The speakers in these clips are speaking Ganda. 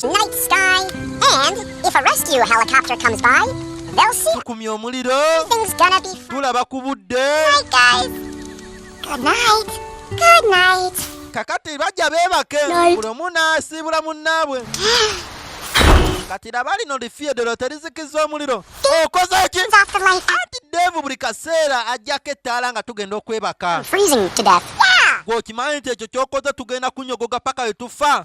Night sky and if a rescue helicopter comes by, they'll see tukumye omuliro. Everything's gonna be tulaba ku budde. Night guys. Good night. Good night. Kakati bajja beebake buli omu n'asiibula munnaabwe. kati laba lino lifiyedero terizikiza omuliro okoze ki anti devu buli kaseera ajjako ettaala nga tugenda okwebaka gweokimanyi nti ekyo kyokoze tugenda kunyogoga paka wetufa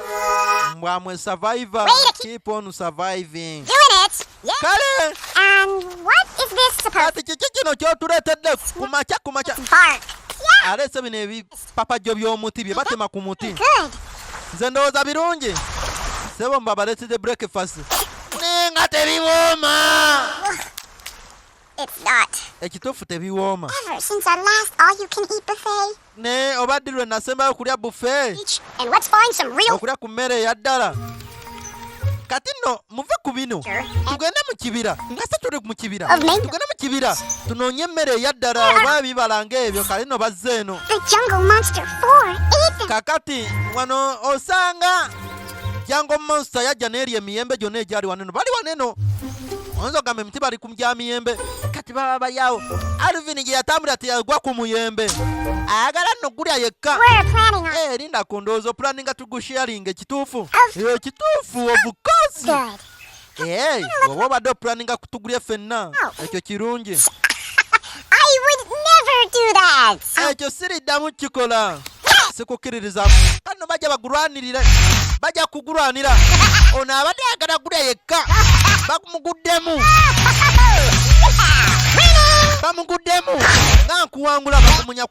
mbwamwe survivor keep on surviving kale kati kiki kino kyotuletedde kumakya kumakya aleese bino ebipapajjo by'omuti bye batema ku muti nze ndowooza birungi sebo mbabaletede breakfast naye nga tebiwooma ekituufu tebiwooma Naye oba ddi lwe nasembayo okulya bufe okulya ku mmere eya ddala kati nno muve ku bino tugende mu kibira nga se tuli mu kibira tugende mu kibira tunoonye emmere eya ddala oba ebibala ng'ebyo kale no bazze eno kakati wano osanga Jango monster yajja n'erya emiyembe gyonna egyali waneno bali waneno oyinza ogamba emiti bali ku gya miyembe kati baba bali awo alvin gye yatambulira teyagwa ku muyembe ayagala nno gulya yekka eh, erinda ku ndowooza opulaninga tugusharinga ekituufu ekituufu obukozi bw'oba obadde opulaninga kutugulya ffenna ekyo kirungi ekyo siriddamu kukikola sikukkiririza kano bajja bagulwanirire bajja kugulwanira ono abadde ayagala gulya yekka bamuguddemu bamuguddemu nga nkuwangula bakumunya